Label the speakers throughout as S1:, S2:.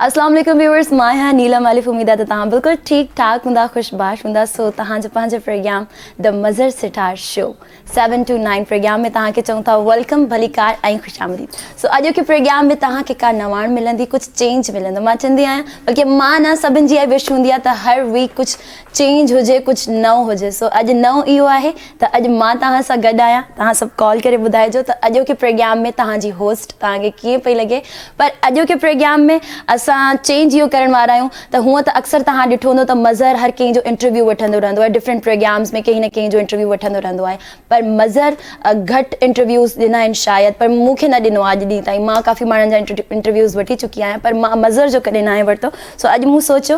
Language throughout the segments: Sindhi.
S1: اسلام عليڪم ويورز مان آهيان نيلم الف اميد آ ته توهان بلڪل ٺيڪ ٺاڪ هوندا خوش باش هوندا سو توهان جو پنهنجو programme the Mazhar Sattar show 7 to 9 programme ۾ توهان کي چون ٿا ويلڪم ڀليڪار ۽ خوش آمديد سو اڄ کي پروگرام ۾ توهان کي ڪا نواڻ ملندي ڪجهه چينج ملندو مان چندي آهيان بلڪه مان نه سڀن جي اهي وش هوندي آ ته هر ويڪ ڪجهه چينج هجي ڪجھ نئون هجي سو اڄ نئون اهو آهي ته اڄ مان توهان سان گڏ آهيان توهان سڀ ڪال ڪري ٻڌائجو ته اڄوڪي پريگيام ۾ توهان جي هوسٽ توهان کي ڪيئن پئي لڳي پر اڄوڪي پريگيام ۾ اسان چينج اهو ڪرڻ وارا آهيون ته هونء ته اڪثر توهان ڏٺو هوندو ته مظهر هر ڪنهن جو انٽرويو وٺندو رهندو آهي ڊفرنٽ پريگيامز ۾ ڪنهن نه ڪنهن جو انٽرويو وٺندو رهندو آهي پر مظهر گهٽ انٽرويوز ڏنا آهن شايد پر مون کي نه ڏنو آهي اڄ ڏينهن تائين مان ڪافي ماڻهن جا انٽرويوز وٺي چڪي آهيان پر مان مظهر جو ڪڏهن ناهي ورتو سو اڄ مون سوچيو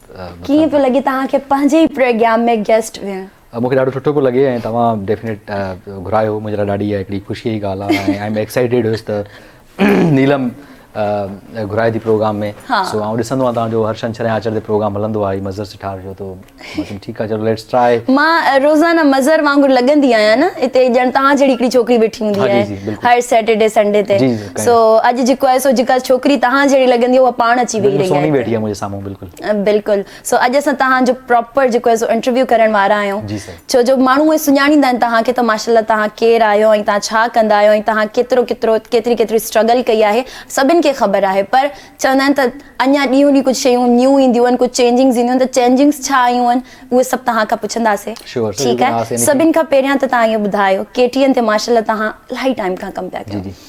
S2: ڪيئن پيو
S1: لڳي توهان کي پنهنجي ئي پروگرام ۾ گيسٽ هئڻ؟ مون کي ڏاڍو سٺو پيو لڳي
S2: ۽ توهان ڊيفنيٽ گهرايو هو منهنجي لاء ڏاڍي اها هڪڙي خوشيء جي ڳالهه آهي ۽ آء ايم ايڪسائيٽيڊ هيس ته نيلم گهرائي ٿي پروگرام ۾ سو آئون ڏسندو آهيان توهان جو هر شنڇر ۽ آچر تي پروگرام هلندو آهي مظهر سٺار جو تو مان چيم ٺيڪ آهي چلو ليٽس ٽرائي مان روزانه
S1: مظهر وانگر لڳندي آهيان نه هتي ڄڻ توهان جهڙي هڪڙي ڇوڪري ويٺي هوندي آهي هر سيٽرڊي سنڊي تي سو اڄ جيڪو آهي سو جيڪا ڇوڪري توهان جهڙي لڳندي آهي اها پاڻ اچي ويهي رهي آهي
S2: بلڪل سو اڄ
S1: اسان توهان جو پراپر جيڪو آهي سو انٽرويو ڪرڻ وارا آهيون ڇو جو ماڻهو اهي سڃاڻيندا آهن توهان کي ته ماشاالله توهان ڪير آهيو ۽ توهان ڇا ڪندا آهيو ۽ توهان ڪيترو ڪيترو ڪيتري ڪيتري اسٽرگل ڪئي آهي سڀن کي خبر آهي پر چوندا آهن ته اڃا ڏينهون ڏينهن ڪجهه شيون نيون اينديون آهن ڪجهه چينجنگز اينديون ته چينجنگز ڇا آيون آهن اهي سڀ توهان کان پڇنداسي ٺيڪ آهي سڀن کان پهريان ته توهان اهو ٻڌايو ڪي ٽي اين تي ماشاالله توهان الاهي ٽائيم کان ڪم پيا ڪيو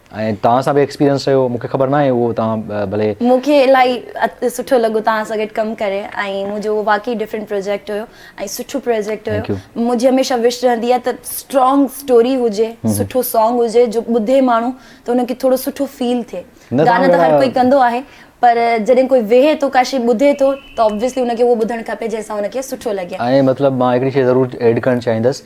S1: ۽ توهان سان به
S2: ايڪسپيرينس رهيو مونکي خبر ناهي اهو توهان ڀلي. مونکي الاهي
S1: سٺو لڳو توهان سان گڏ ڪم ڪري ۽ منهنجو اهو واقعي ڊفرنٽ پروجيڪٽ هيو ۽ سٺو پروجيڪٽ هيو Thank you. منهنجي هميشه وش رهندي آهي ته اسٽرانگ اسٽوري هجي سٺو سانگ هجي جو ٻڌي ماڻهو ته ان کي ٿورو سٺو فيل ٿئي نه گانا سانگ ته هر ڪوئي ڪندو آهي پر جڏهن ڪوئي ويهي ٿو ڪا شي ٻڌي ٿو ته Obviously ان کي اهو ٻڌڻ کپي جنهن سان ان کي سٺو لڳي. ۽ مطلب مان هڪڙي شي
S2: ضرور ايڊ ڪرڻ چاهيندس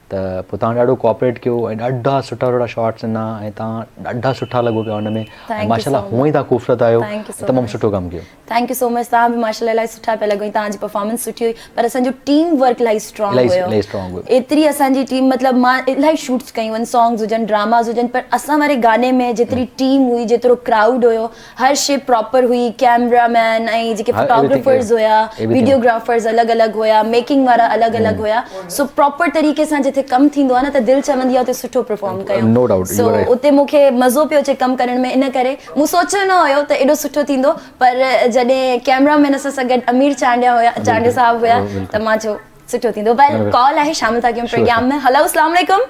S2: ته پوء تهان ڏاڍو ڪوآپريٽ ڪيو ۽ ڏاڍا سٺا سٺا شارٽس ڏنا ۽ تهان ڏاڍا سٺا لڳو پيا ان ۾ ۽ ماشاءالله هونء ئي
S1: تهان خوبصورت
S2: آهيو تمام سٺو ڪم
S1: ڪيو. ٿينڪ
S2: يو سو مچ تهان به
S1: ماشاءالله الائي سٺا پيا لڳو ۽ تهان جي پرفارمنس سٺي هئي پر اسان جو ٽيم ورڪ الائي اسٽرانگ هيو
S2: ايتري اسان جي
S1: ٽيم مطلب مان الائي شوٽس ڪيون آهن سانگز هجن ڊراماز هجن پر اسان واري گاني ۾ جيتري ٽيم هئي جيترو ڪرائوڊ هيو هر شي پراپر هئي ڪيمرا مين ۽ جيڪي فوٽوگرافرز هيا ويڊيو گرافرز
S2: الڳ الڳ
S1: هيا ميڪنگ وارا الڳ الڳ هيا سو پراپر طريقي سان جتي ڪم ٿيندو آهي نه ته دل چوندي آهي اتي سٺو پرفارم ڪيون سو اتي
S2: مون کي مزو پيو
S1: اچي ڪم ڪرڻ ۾ ان ڪري مون سوچيو نه هيو ته ايڏو سٺو ٿيندو پر جڏهن ڪيمرا مين اسان سان گڏ امير چانڊيا هيا چانڊيا صاحب هيا ته مان چيو سٺو ٿيندو بهر ڪال آهي شامل ٿا ڪيون پروگرام ۾ هلو اسلام عليڪم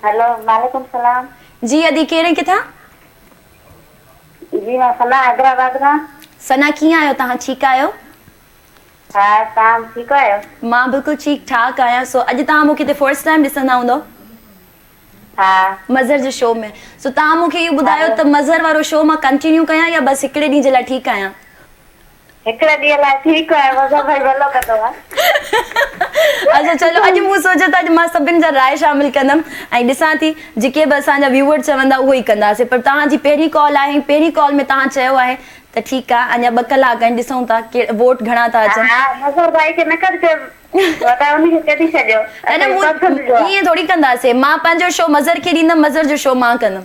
S1: هلو وعليڪم
S3: سلام جي ادي ڪير ۽
S1: ڪٿان
S3: جي مان ثنا حيدرآباد کان. ثنا ڪيئن آهيو
S1: توهان ٺيڪ آهيو. ها
S3: توهان ٺيڪ آهيو. مان بلڪل ٺيڪ
S1: ٺاڪ آهيان سو اڄ توهان مونکي هتي فرسٽ ٽائيم ڏسندا هوندو.
S3: ها. مظهر جي
S1: شو ۾ سو توهان مونکي اهو ٻڌايو ته مظهر وارو شو مان ڪنٽينيو ڪيان يا بس هڪڙي ڏينهن جي لاء ٺيڪ آهيان. هڪڙي
S3: ڏينهن لاء ٺيڪ
S1: آهي وضع ڀائي ڀلو ڪندو ها. اچا چلو اڄ مون سوچيو ته اڄ مان سڀن جا راء شامل ڪندم ۽ ڏسان ٿي جيڪي به اسان جا ويوئر چوندا اهو ئي ڪنداسين پر توهان جي پهرين ڪال آهي ۽ پهرين ڪال ۾ توهان چيو آهي ته ٺيڪ آهي اڃا ٻه ڪلاڪ آهن ڏسون ٿا ووٽ گهڻا ٿا اچن. ها مظهر
S3: ڀائي کي نه ڪڍجي وڌا ان کي ڪڍي ڇڏيو
S1: اسان جي پسند جو آهي. ائين ٿوري ڪنداسين مان پنهنجو شو مظهر کي ڏيندم مظهر جو شو مان ڪندم.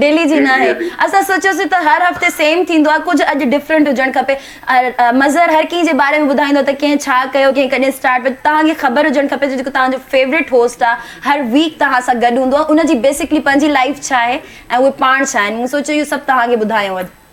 S1: ڊيلي جي ناهي اسان سوچيوسين ته هر هفتي سيم ٿيندو آهي ڪجهه اڄ ڊفرنٽ هجڻ کپي مظهر هر ڪنهن جي باري ۾ ٻڌائيندو ته ڪنهن ڇا ڪيو ڪنهن ڪڏهن اسٽارٽ بٽ توهان کي خبر هجڻ کپي ته جيڪو توهان جو فيورٽ هوسٽ آهي هر ويڪ توهان سان گڏ هوندو آهي ان جي بيسڪلي پنهنجي لائيف ڇا آهي ۽ اهي پاڻ ڇا آهن مون سوچيو اهو سڀ توهان کي ٻڌايون اڄ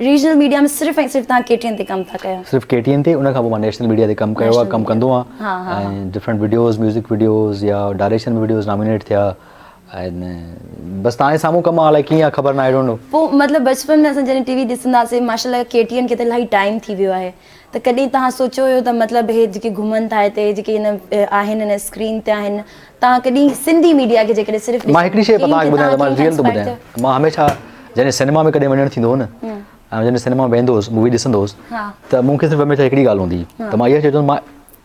S1: ريجنل ميڊيا ۾ صرف ۽ صرف تهان ڪي ٽي اين تي ڪم ٿا ڪيو. صرف ڪي ٽي اين تي ان کان پوء
S2: مان نيشنل ميڊيا تي ڪم ڪيو آهي ڪم ڪندو آهيان ۽ ڊفرنٽ وڊيوز ميوزڪ وڊيوز يا ڊائريڪشن ۾ وڊيوز نامينيٽ ٿيا ۽ بس تهان جي سامهون ڪم آهي الاء ڪيئن آهي خبر ناهي آئي ڊونٽ نو. پوء مطلب بچپن ۾
S1: اسان جڏهن ٽي وي ڏسندا هئاسين ماشاء الله ڪي ٽي اين کي ته الاهي ٽائيم ٿي ويو آهي ته ڪڏهن توهان سوچيو هيو ته مطلب هي جيڪي گهمن ٿا هتي جيڪي هن آهن هن اسڪرين تي آهن توهان ڪڏهن سنڌي ميڊيا کي جيڪڏهن صرف ڏسو مان هڪڙي شيء توهان کي ٻڌايان ته
S2: مان ريئل ٿو ٻڌايان مان هميشه جڏهن سينيما ۾ ڪڏهن وڃڻ ٿيندو هو نه ۽ جڏهن سينيما ۾ ويندو هوس مووي ڏسندو هوس ته مون کي صرف هميشه هڪڙي ڳالهه هوندي هئي ته مان اها شيء چوندو هوس مان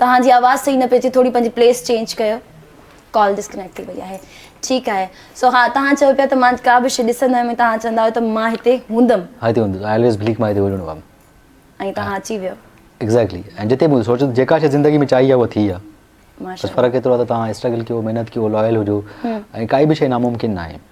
S1: توهان جي آواز صحيح نه پئي اچي ٿوري پنهنجي پليس چينج ڪيو ڪال ڊسڪنيڪٽ ٿي وئي آهي ٺيڪ آهي سو ها توهان چئو پيا ته مان ڪا به شي ڏسندو آهيان توهان چوندا آهيو ته مان هتي هوندم ها هتي هوندس آء الويز
S2: بليف مان هتي هلڻو هوم ۽ توهان اچي ويو
S1: ايگزيڪٽلي ۽ جتي
S2: به سوچو جيڪا شي زندگي ۾ چاهي آهي اها ٿي آهي بس فرق ايترو آهي ته توهان
S1: اسٽرگل
S2: ڪيو محنت ڪيو لويل هجو ۽ ڪائي به شي ناممڪن ناهي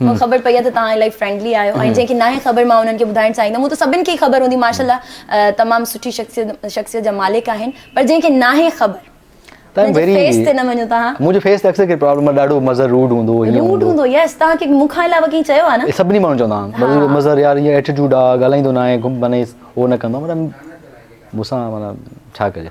S1: مون کي خبر پئي آهي ته توهان الائي فرينڊلي آهيو ۽ جنهن کي ناهي خبر مان انهن کي ٻڌائڻ چاهيندم هون ته سڀن کي ئي خبر هوندي ماشاء الله تمام سٺي شخصيت شخصيت جا مالڪ آهن پر جنهن کي ناهي خبر تنهن جي فيس تي نه وڃو توهان منهنجي فيس تي اڪثر ڪري پرابلم
S2: آهي ڏاڍو مظهر روڊ هوندو هو هيئن روڊ هوندو يس
S1: توهان کي مون کان علاوه ڪنهن چيو آهي نه سڀني ماڻهن چوندا آهن
S2: مظهر يار هيئن ايٽيٽوڊ آهي ڳالهائيندو ناهي معنيٰ هو نه ڪندو آهي مطلب مون سان معنيٰ ڇا ڪجي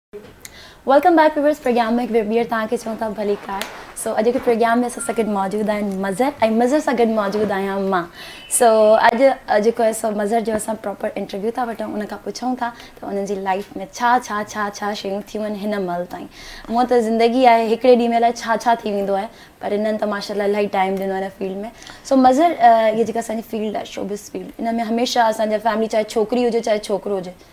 S1: ويلڪم بيڪ ويورس پروگرام ۾ هڪ ڀيرو ٻيهر توهان کي چون ٿا ڀلي ڪار سو اڄ جي پروگرام ۾ اسان سان گڏ موجود آهن مظهر ۽ مظهر سان گڏ موجود آهيان مان سو اڄ جيڪو آهي سو مظهر جو اسان پراپر انٽرويو ٿا وٺون ان کان پڇون ٿا ته انهن جي لائف ۾ ڇا ڇا ڇا ڇا شيون ٿيون آهن هن مهل تائين مون ته زندگي آهي هڪڙي ڏينهن ۾ لاء ڇا ڇا ٿي ويندو آهي پر انهن ته ماشاء الله الاهي ٽائيم ڏنو آهي هن فيلڊ ۾ سو مظهر هي جيڪا اسان جي فيلڊ آهي شوبس فيلڊ ان ۾ هميشه اسان جا فيملي چاهي ڇوڪري هجي چاهي ڇوڪرو هجي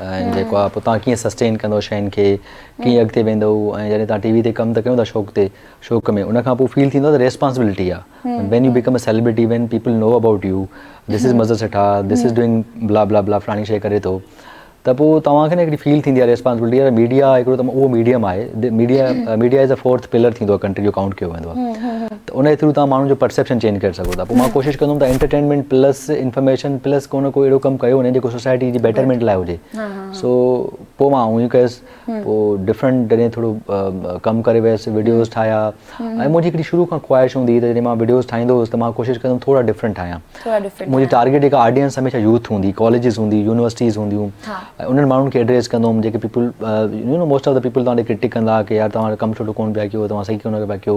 S2: ۽ جيڪو آ پوء تان ڪيئن سسٽين ڪندو شين کي ڪيئن اڳتي ويندو ۽ جڏهن تان ٽي وي تي ڪم ته ڪيون ٿا شوق تي شوق ۾ ان کان پوء فيل ٿيندو ته ريسپانسبلٽي آ when you become a celebrity when people know about you this is Mazhar Setha this is doing blah blah بلا فلاڻي شي ڪري ٿو ته پوء توهان کي نه هڪڙي فيل ٿيندي آ ريسپانسبلٽي يار ميڊيا هڪڙو ته اهو ميڊيم آهي media media is a fourth pillar ٿيندو آ ڪنٽري جو ڪائونٽ ڪيو ويندو آ ته انهي ٿرو تهان ماڻهن جو پرسيپشن چينج ڪري سگهو ٿا پوء مان ڪوشش ڪندم ته انٽرٽينمينٽ پلس انفارميشن پلس ڪو نه ڪو اهڙو ڪم ڪيو وڃي جيڪو سوسائٽي جي بيٽرمينٽ لاء هجي سو پوء مان اهو ئي ڪيس پوء ڊفرنٽ جڏهن ٿورو ڪم ڪري ويس وڊيوز ٺاهيا ۽ منهنجي هڪڙي شروع کان خواهش هوندي هئي ته جڏهن مان وڊيوز ٺاهيندو هوس ته مان ڪوشش ڪندم ٿورا ڊفرنٽ ٺاهيان منهنجي ٽارگيٽ جيڪا آڊينس هميشه يوٿ هوندي ڪاليجز هوندي يونيورسٽيز هونديون ۽ انهن ماڻهن کي ايڊريس ڪندو هوم جيڪي people you know most of the people تهان ڏي ڪرٽڪ ڪندا ڪي يار توهان ڪم سٺو ڪونه پيا ڪيو توهان صحيح ڪونه پيا ڪيو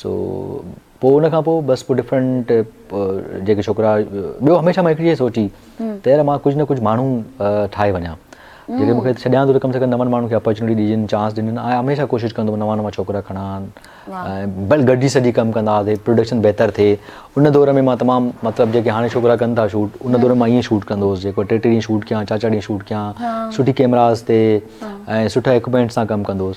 S2: سو پوء ان کان پوء بس پوء ڊفرنٽ جيڪي ڇوڪرا ٻيو هميشه مان هڪ شيء سوچي ته يار مان ڪجهه نه ڪجهه ماڻهو ٺاهي وڃان جيڪي مون کي ڇڏيان ٿو ته ڪم سي ڪم نون ماڻهن کي اپرچونيٽي ڏجن چانس ڏجن آء هميشه ڪوشش ڪندو نوان نوان ڇوڪرا کڻا بل گڏجي سڄي ڪم ڪندا هئاسي پروڊڪشن بهتر ٿئي ان دور ۾ مان تمام مطلب جيڪي هاڻي ڇوڪرا ڪن ٿا شوٽ ان دور مان ائين شوٽ ڪندو هوس جيڪو ٽي ٽي ڏينهن شوٽ ڪيان چار چار ڏينهن شوٽ ڪيان سٺي ڪيمراز تي ۽ سٺا اڪوپمينٽس سان ڪم ڪندو هوس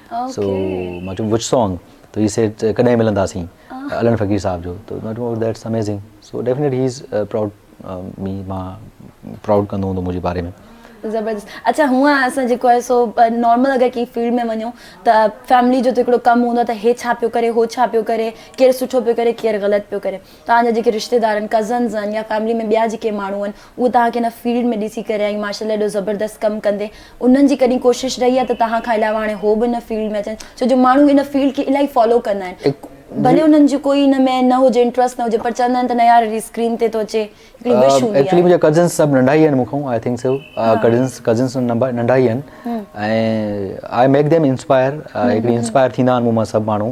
S2: سو مان چيم وچ سانگ ته هي سيڊ ڪڏهن ملنداسين علڻ فقير صاحب جو ته مان چيم that's amazing so definite he is proud me مان پرائوڊ ڪندو هوندو منهنجي باري ۾ زبردست
S1: اچا هونء اسان جيڪو آهي سو نارمل اگر ڪنهن فيلڊ ۾ وڃون ته فيملي جو ته هڪڙو ڪم هوندو آهي ته هي ڇا پيو ڪري هو ڇا پيو ڪري ڪير سٺو پيو ڪري ڪير غلط پيو ڪري توهان جا جيڪي رشتيدارن، ڪزنز، آهن يا فيملي ۾ ٻيا جيڪي ماڻهو آهن اهي توهان کي ان فيلڊ ۾ ڏسي ڪري ۽ ماشاء الله ايڏو زبردست ڪم ڪندي انهن جي ڪڏهن ڪوشش رهي آهي ته توهان کان علاوه هاڻي هو به ان فيلڊ ۾ اچن ڇو جو ماڻهو ان فيلڊ کي الائي فالو ڪندا آهن ڀلي انهن جو ڪوئي ان ۾ نه هجي انٽرسٽ نه هجي پر چوندا آهن ته نه يار اسڪرين تي ٿو اچي هڪڙي وش هوندي آهي. ايڪچولي منهنجا ڪزنز سڀ ننڍا
S2: ئي آهن مون کان I think so cousins cousins ننڍا ئي آهن ۽ آء ميڪ ديم انسپائر هڪڙي انسپائر ٿيندا آهن مون مان سڀ ماڻهو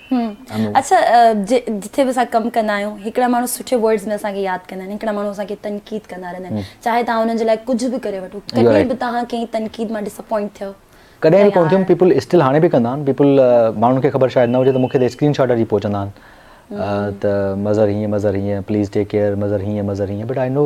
S2: اسان
S1: جتي به اسان ڪم ڪندا آهيون هڪڙا ماڻهو سٺي ورڊز ۾ اسان کي ياد ڪندا آهن هڪڙا ماڻهو اسان کي تنقيد ڪندا رهندا آهن چاهي تان انهن جي لاء ڪجهه به ڪري وٺو ڪڏهن به تان کي تنقيد مان ڊسپوائنٽ ٿيو ڪڏهن به ڪون ٿيم
S2: پيپل اسٽل هاڻي به ڪندا آهن پيپل ماڻهن کي خبر شايد نه هجي ته مونکي ته اسڪرين شاٽ اچي پهچندا آهن ته مظهر هيئن مظهر هيئن پليز ٽيڪ ڪيئر مظهر هيئن مظهر هيئن بٽ آء نو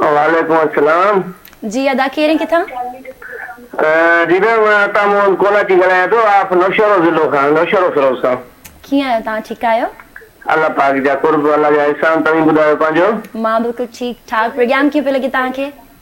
S4: وعليڪم السلام. جي ادا ڪيرين
S1: ڪٿان.
S4: جي ڀيڻ مان عطا محمد ڪولاچي ڳالهايان ٿو آف نوشهرو ضلعو کان نوشهرو فيروز کان. ڪيئن آهيو تهان ٺيڪ
S1: آهيو. الله پاڪ
S4: جا قرب الله جا احسان توهين ٻڌايو پنهنجو. مان بلڪل ٺيڪ
S1: ٺاڪ پروگرام ڪيئن پيو لڳي تهان کي.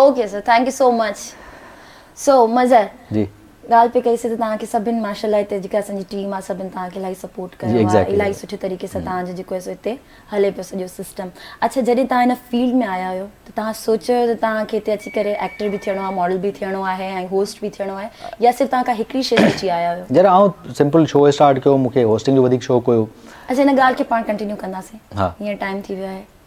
S2: Okay sir
S1: thank you so much سو مظهر جي ڳالهه
S2: پئي ڪئي سي ته
S1: توهان کي سڀن ماشاء الله هتي جيڪا اسان جي ٽيم آهي سڀن توهان کي الاهي سپورٽ ڪيو آهي الاهي سٺي طريقي سان
S2: توهان
S1: جو جيڪو سو هتي هلي پيو سڄو سسٽم اڇا جڏهن توهان هن فيلڊ ۾ آيا هيو ته توهان سوچيو هيو ته توهان کي هتي اچي ڪري ايڪٽر به ٿيڻو آهي ماڊل به ٿيڻو آهي ۽ هوسٽ به ٿيڻو آهي يا صرف توهان ڪا هڪڙي شي سوچي آيا هيو جڏهن آئون سمپل
S2: شو اسٽارٽ ڪيو مون کي هوسٽنگ جو وڌيڪ شوق هيو اڇا هن ڳالهه کي پاڻ
S1: ڪنٽينيو ڪنداسين هينئر ٽائيم ٿي
S2: ويو آهي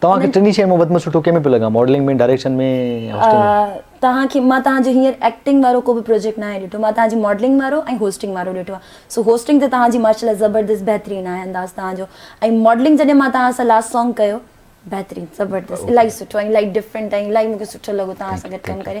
S1: توهان کي ٽنهي شين مان وڌ
S2: ۾ سٺو ڪنهن ۾ پيو لڳان ماڊلنگ ۾ ڊائريڪشن ۾ هوسٽنگ ۾ توهان کي مان توهان جو
S1: هينئر ايڪٽنگ وارو ڪو به پروجيڪٽ ناهي ڏٺو مان توهان جي ماڊلنگ وارو ۽ هوسٽنگ وارو ڏٺو آهي سو هوسٽنگ تي توهان جي ماشاءالله زبردست بهترين آهي انداز توهان جو ۽ ماڊلنگ جڏهن مان توهان سان لاسٽ سانگ ڪيو بهترين زبردست الاهي سٺو ۽ الاهي ڊفرنٽ ۽ الاهي مون کي سٺو لڳو توهان سان گڏ ڪم ڪري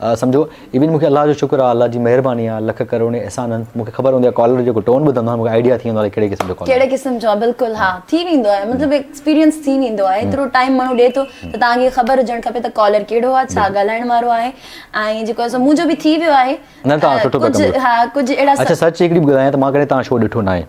S2: سمجهو ايون مونکي الله جو شڪر آ الله جي مهرباني آ لک ڪروڙين احسان آهن مونکي خبر هوندي آ ڪالر جو جيڪو ٽون ٻڌندو آهيان مونکي آئيڊيا ٿي ويندو آ ڪهڙي قسم جو ڪالر ڪهڙي قسم جو آ بلڪل ها
S1: ٿي ويندو آهي مطلب ايڪسپيرينس ٿي ويندو آهي ايترو ٽائيم ماڻهو ڏي ٿو ته تهان کي خبر هجڻ کپي ته ڪالر ڪهڙو آ ڇا ڳالهائڻ وارو آهي ۽ جيڪو آهي سو منهنجو به ٿي ويو آهي نه تهان سٺو پيا
S2: ڪم ڪيو ڪجهه اهڙا اچا
S1: سچ هڪڙي ٻڌايان ته
S2: مان ڪڏهن تهان شو ڏٺو ناهي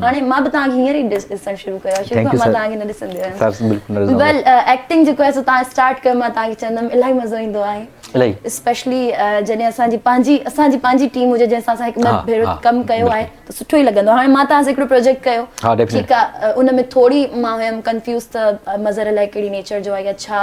S1: هاڻي مان به توهان کي هينئر ئي ڏسڻ شروع ڪيو آهي شروع کان مان توهان کي نه ڏسندي هيم ويل ايڪٽنگ جيڪو آهي سو توهان اسٽارٽ ڪيو مان توهان کي چوندم الاهي مزو ايندو آهي الاهي اسپيشلي جڏهن اسان جي پنهنجي اسان جي پنهنجي ٽيم هجي جنهن سان اسان هڪ ٻه ڀيرو ڪم ڪيو
S2: آهي ته
S1: سٺو ئي لڳندو هاڻي مان توهان سان هڪڙو پروجيڪٽ ڪيو ٺيڪ آهي
S2: ان ۾
S1: ٿوري مان هيم ڪنفيوز ته مظهر الاهي ڪهڙي نيچر جو آهي يا ڇا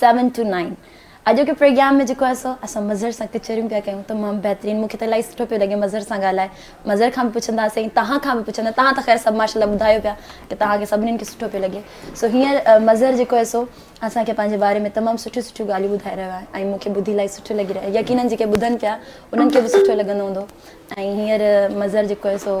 S1: سيون ٽو نائين اڄوڪي پروگرام ۾ جيڪو آهي سو اسان مظهر سان ڪچهريون پيا ڪيون تمام بهترين مونکي ته الائي سٺو پيو لڳي مظهر سان ڳالهائي مظهر کان به پڇنداسين ۽ توهان کان به پڇندا توهان ته خير سڀ ماشاءالله ٻڌايو پيا ته توهان کي سڀنين کي سٺو پيو لڳي سو هينئر مظهر جيڪو آهي سو اسان کي پنهنجي باري ۾ تمام سٺيون سٺيون ڳالهيون ٻڌائي رهيو آهي ۽ مونکي ٻڌي الائي سٺو لڳي رهيو يقينن جيڪي ٻڌن پيا انهن کي به سٺو لڳندو هوندو ۽ هينئر مظهر جيڪو آهي سو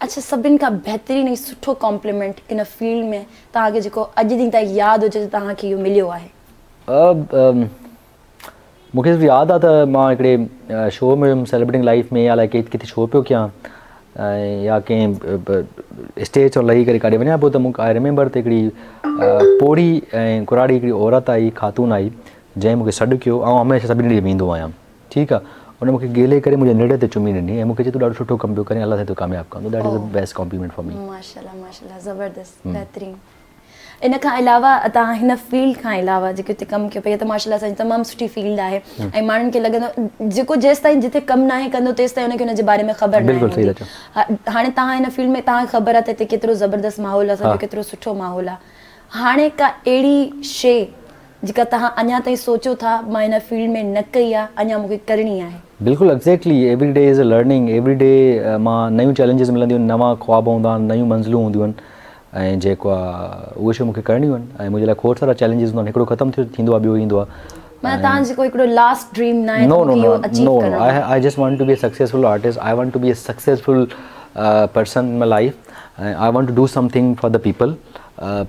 S2: اڇا سڀن
S1: کان بهترين ۽ سٺو ڪامپليمينٽ ان فيلڊ ۾ توهان کي جيڪو اڄ ڏينهن تائين ياد هجي ته توهان کي اهو مليو آهي؟ مون کي
S2: صرف ياد آ ته مان هڪڙي شو ۾ هيم سيلبريٽنگ لائيف ۾ الائي ڪٿي شو پيو ڪيان يا ڪنهن اسٽيج تان لهي ڪري ڪاڏي وڃان پيو ته مون آئي ريميمبر ته هڪڙي پوڙهي ۽ ڪراڙي هڪڙي عورت آئي خاتون آئي جنهن مون کي سڏ ڪيو آئون هميشه سڀني ڏي ويندو آهيان ٺيڪ آ ان مون کي گيلي ڪري منهنجي نڙي تي چمي ڏني ۽ مون کي چيو تون ڏاڍو سٺو ڪم پيو ڪرين الله سائين تو ڪامياب ڪندو that is the best compliment for me. ماشاءالله ماشاءالله
S1: زبردست بهترين ان کان علاوه تان هن فيلڊ کان علاوه جيڪي هتي ڪم ڪيو پئي ته ماشاءالله سائين تمام سٺي فيلڊ آهي ۽ ماڻهن کي لڳندو جيڪو جيستائين جتي ڪم ناهي ڪندو تيستائين ان کي ان جي باري ۾ خبر ناهي هوندي
S2: هاڻي تان هن
S1: فيلڊ ۾ تان خبر آ ته هتي ڪيترو زبردست ماحول آ سڀ ڪيترو سٺو ماحول آ هاڻي ڪا اهڙي شي جيڪا توهان اڃا تائين سوچو ٿا مان ان فيلڊ ۾ نه ڪئي آ اڃا مون کي ڪرڻي آهي. بلڪل exactly
S2: every day is learning every day مان نيون چئلينجز ملنديون آهن نوان خواب هوندا آهن نيون منزلون هونديون آهن ۽ جيڪو آ اهي شيون مون کي ڪرڻيون آهن ۽ منهنجي لاء کوڙ سارا چئلينجز هوندا آهن هڪڙو ختم ٿيو ٿيندو آ ٻيو ايندو آ معنيٰ توهان جيڪو
S1: هڪڙو لاسٽ ڊريم ناهي ته مون کي اهو اچيو ڪرڻو
S2: آهي. I just want to be a successful artist I want to be a successful person in my life ۽ I want to do something for the people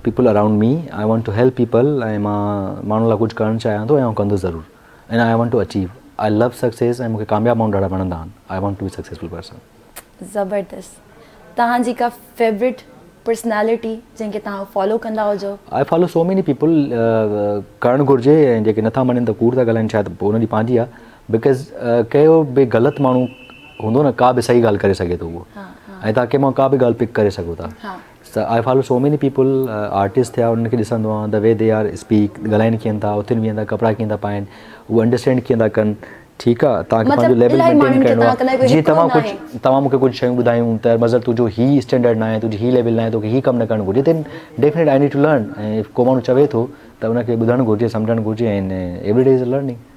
S2: people around me I want to help people ۽ مان ماڻهن لاء ڪجهه ڪرڻ چاهيان ٿو ۽ آئون ڪندس ضرور and I want to achieve I love success ۽ مون کي ڪامياب ماڻهو ڏاڍا وڻندا آهن I want to be successful person. زبردست
S1: توهان جي ڪا فيورٽ پرسنالٽي جنهن کي توهان فالو ڪندا هجو. I follow so many people
S2: ڪرڻ گهرجي ۽ جيڪي نٿا مڃن ته ڪوڙ ٿا ڳالهائن شايد پوء انهن جي پنهنجي آهي بڪاز ڪهڙو به غلط ماڻهو هوندو نه ڪا به صحيح ڳالهه ڪري سگهي ٿو اهو ۽ توهان ڪنهن مان ڪا به ڳالهه پڪ ڪري سگهو ٿا so I follow so many people artist ٿيا انهن کي ڏسندو آهيان the way they are speak ڳالهائين ڪيئن ٿا اٿين ويهين ٿا ڪپڙا ڪيئن ٿا پائين اهو انڊرسٽينڊ ڪيئن ٿا ڪن ٺيڪ آ توهان کي پنهنجو ليول مينٽين ڪرڻو آ جي توهان ڪجهه توهان مون کي ڪجهه شيون ٻڌايون ته مظهر تنهنجو هي اسٽينڊرڊ ناهي تنهنجو هي ليول ناهي توکي هي ڪم نه ڪرڻ گهرجي then definite I need to learn ڪو ماڻهو چوي ٿو ته ان کي ٻڌڻ گهرجي سمجهڻ گهرجي ۽ ايوڙي ڊيز لرننگ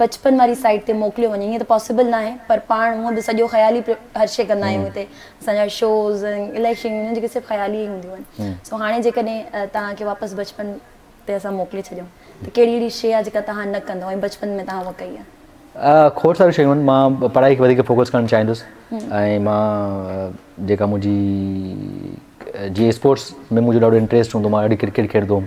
S1: بچپن واري سائيٽ تي موڪليو وڃي ائين ته پاسيبل ناهي پر پاڻ هونئن به سڄو خيالي هر شي ڪندا آهيون هتي اسان جا شوز الائي شيون هن جيڪي صرف خيالي ئي هونديون آهن سو هاڻي جيڪڏهن توهان کي واپس بچپن تي اسان موڪلي ڇڏيون ته ڪهڙي اهڙي شي آهي جيڪا توهان نه ڪندو ۽ بچپن ۾ توهان هوء ڪئي آهي کوڙ ساريون شيون آهن مان
S2: پڙهائي کي وڌيڪ فوڪس ڪرڻ چاهيندس ۽ مان جيڪا منهنجي جي اسپورٽس ۾ منهنجو ڏاڍو انٽريسٽ هوندو مان ڏاڍي ڪرڪيٽ کيڏندو هوم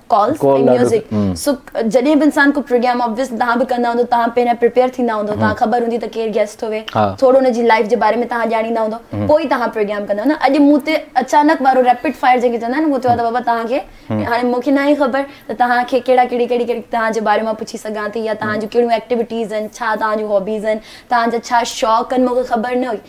S1: ڪالز ۽ ميوزڪ سو جڏهن به انسان ڪو پروگرام آبويسلي تهان به ڪندا هوندو تهان پهريان پريپيئر ٿيندا هوندو تهان خبر هوندي ته ڪير گيسٽ ٿو ويهي ٿورو ان جي لائف جي باري ۾ تهان ڄاڻيندا هوندو پوء ئي تهان پروگرام ڪندا هوندو اڄ مون تي اچانڪ وارو ريپڊ فائر جنهن کي چوندا آهن اهو ٿيو ته بابا تهان کي هاڻي مون کي ناهي خبر ته تهان کي ڪهڙا ڪهڙي ڪهڙي ڪهڙي تهان جي باري مان پڇي سگهان ٿي يا تهان جون ڪهڙيون ايڪٽيوٽيز آهن ڇا تهان جون هابيز آهن تهان جا ڇا شوق آهن مون کي خبر نه هئي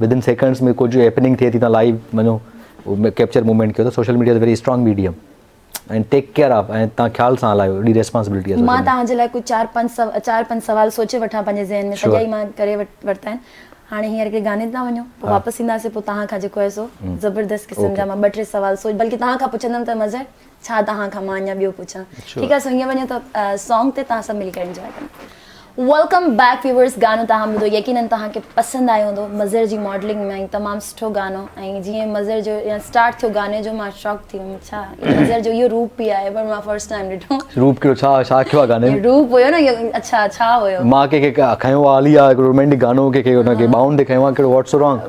S2: ودن سيڪنڊس ۾ ڪجهه هيپننگ ٿئي ٿي تون لائيو وڃو ڪيپچر موومينٽ ڪيو ته social media is very strong medium ۽ take care of ۽ تان خيال سان هلايو اهڙي ريسپانسبلٽي آهي مان توهان جي لاء ڪجهه
S1: چار
S2: پنج
S1: سو چار پنج سوال سوچي وٺان پنهنجي ذهن ۾ سڄا ئي مان ڪري ورتا آهن هاڻي هينئر هڪڙي گاني تي ٿا وڃو پوء واپس اينداسين پوء توهان کان جيڪو آهي سو زبردست قسم جا مان ٻه ٽي سوال سوچ بلڪه توهان کان پڇندم ته مظهر ڇا توهان کان مان اڃا ٻيو پڇان ٺيڪ آهي سنگيو وڃو ته سانگ تي توهان سڀ ملي ڪري انجوائي ڪريون ويلڪم بيڪ ويورس گانو توهان ٻڌو يقينن توهان کي پسند آيو هوندو مظهر جي ماڊلنگ ۾ تمام سٺو گانو ۽ جيئن مظهر جو يا اسٽارٽ ٿيو گاني جو مان شاڪ ٿي ويم ڇا مظهر جو اهو روپ به آهي پر مان فرسٽ ٽائيم ڏٺو روپ ڪيو ڇا ڇا
S2: ٿيو آهي گاني ۾ روپ هيو نه اڇا
S1: ڇا هيو مان ڪنهن کي کنيو
S2: آهي علي آهي هڪڙو رومينٽڪ گانو ڪنهن کي ان کي ٻانهن تي کنيو آهي ڪهڙو واٽس سو رانگ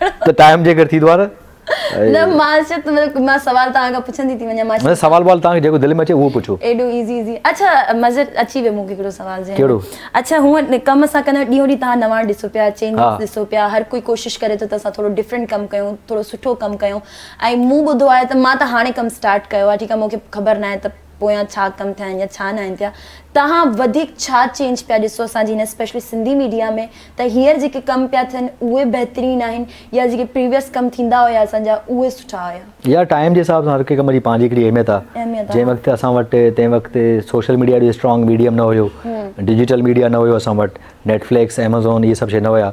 S2: ته ٽائيم جيڪر ٿي دوار نه مان
S1: چيت مان سوال توهان کان پڇندي ٿي وڃان مان سوال وال توهان کي جيڪو دل ۾
S2: اچي اهو پڇو ايڏو ايزي ايزي اڇا
S1: مزر اچي ويو مون کي هڪڙو سوال جي ڪهڙو اڇا هو ڪم اسان ڪندا ڏينهون ڏينهن توهان نوان ڏسو پيا چينج ڏسو پيا هر ڪوئي ڪوشش ڪري ٿو ته اسان ٿورو ڊفرنٽ ڪم ڪيون ٿورو سٺو ڪم ڪيون ۽ مون ٻڌو آهي ته مان ته هاڻي ڪم اسٽارٽ ڪيو آهي ٺيڪ آهي مون کي خبر ناهي ته پويان ڇا ڪم ٿيا آهن يا ڇا نه آهن ٿيا توهان وڌيڪ ڇا چينج پيا ڏسو اسان جي هن اسپيشلي سنڌي ميڊيا ۾ ته هينئر جيڪي ڪم پيا ٿين اهي بهترين آهن يا جيڪي پريويس ڪم ٿيندا هيا اسان جا اهي سٺا هيا. يار ٽائيم جي حساب سان هر
S2: ڪنهن ڪم جي پنهنجي هڪڙي اهميت آ جنهن وقت اسان وٽ تنهن وقت سوشل ميڊيا ايڏو اسٽرانگ ميڊيم نه هيو ڊجيٽل ميڊيا نه هيو اسان وٽ نيٽ فليڪس ايمازون اهي سڀ شي نه هيا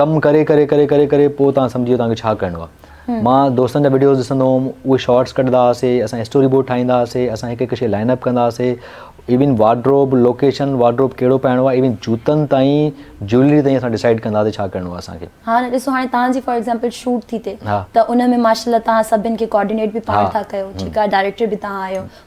S2: ڪم ڪري ڪري ڪري ڪري ڪري پوء تان سمجهي ويو تان کي ڇا ڪرڻو آ مان دوستن جا وڊيوز ڏسندو هوم اهي شارٽس ڪڍندا هئاسي اسان اسٽوري بورڊ ٺاهيندا هئاسي اسان هڪ هڪ شي لائن اپ ڪندا هئاسي ايون وارڊروب لوڪيشن وارڊروب ڪهڙو پائڻو آ ايون جوتن تائين جولري تائين اسان ڊيسائيڊ ڪندا هئاسي ڇا ڪرڻو آ اسان کي ها نه ڏسو هاڻي تان
S1: جي فار ايگزامپل شوٽ ٿي ٿي ته ان ۾ ماشاءالله تان سڀن کي ڪوآرڊينيٽ به پاڻ ٿا ڪيو ٺيڪ آ
S2: ڊائريڪٽر
S1: به تان آهيو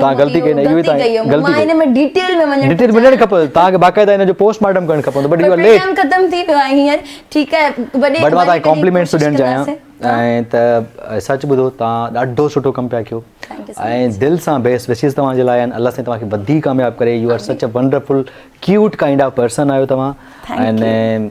S1: توهان غلطي ڪئي نه اهو ئي توهان
S2: غلطي ڪئي
S1: ڊيٽيل ۾ وڃڻ کپندو توهان کي
S2: باقاعده ان جو پوسٽ مارٽم ڪرڻ کپندو but you are late
S1: but مان توهان کي
S2: ڪامپليمينٽس ٿو ڏيڻ چاهيان ۽ ته سچ ٻڌو توهان ڏاڍو سٺو ڪم پيا ڪيو ۽ دل
S1: سان بيسٽ
S2: وشيز توهان جي لاء آهن الله سائين توهان کي وڌيڪ ڪامياب ڪري you are such a wonderful cute kind of person آهيو توهان ۽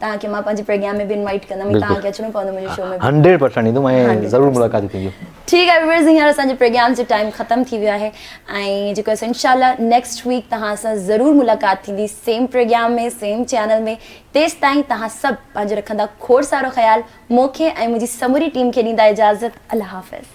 S2: توهان
S1: کي
S2: مان
S1: پنهنجي پروگرام ۾ به انوائيٽ ڪندم ۽ توهان کي اچڻو پوندو منهنجي
S2: شو ۾
S1: به هنڊريڊ پرسينٽ ايندم ۽
S2: ضرور ملاقاتون ٿينديون ٺيڪ آهي ويورز هينئر
S1: اسان جي پروگرام جو ٽائيم ختم ٿي ويو آهي ۽ جيڪو اسان انشاء الله نيڪسٽ ويڪ توهان سان ضرور ملاقات ٿيندي سيم پروگرام ۾ سيم چينل ۾ تيستائين توهان سڀ پنهنجو رکندا کوڙ سارو خيال مونکي ۽ منهنجي سموري ٽيم کي ڏيندا اجازت الله حافظ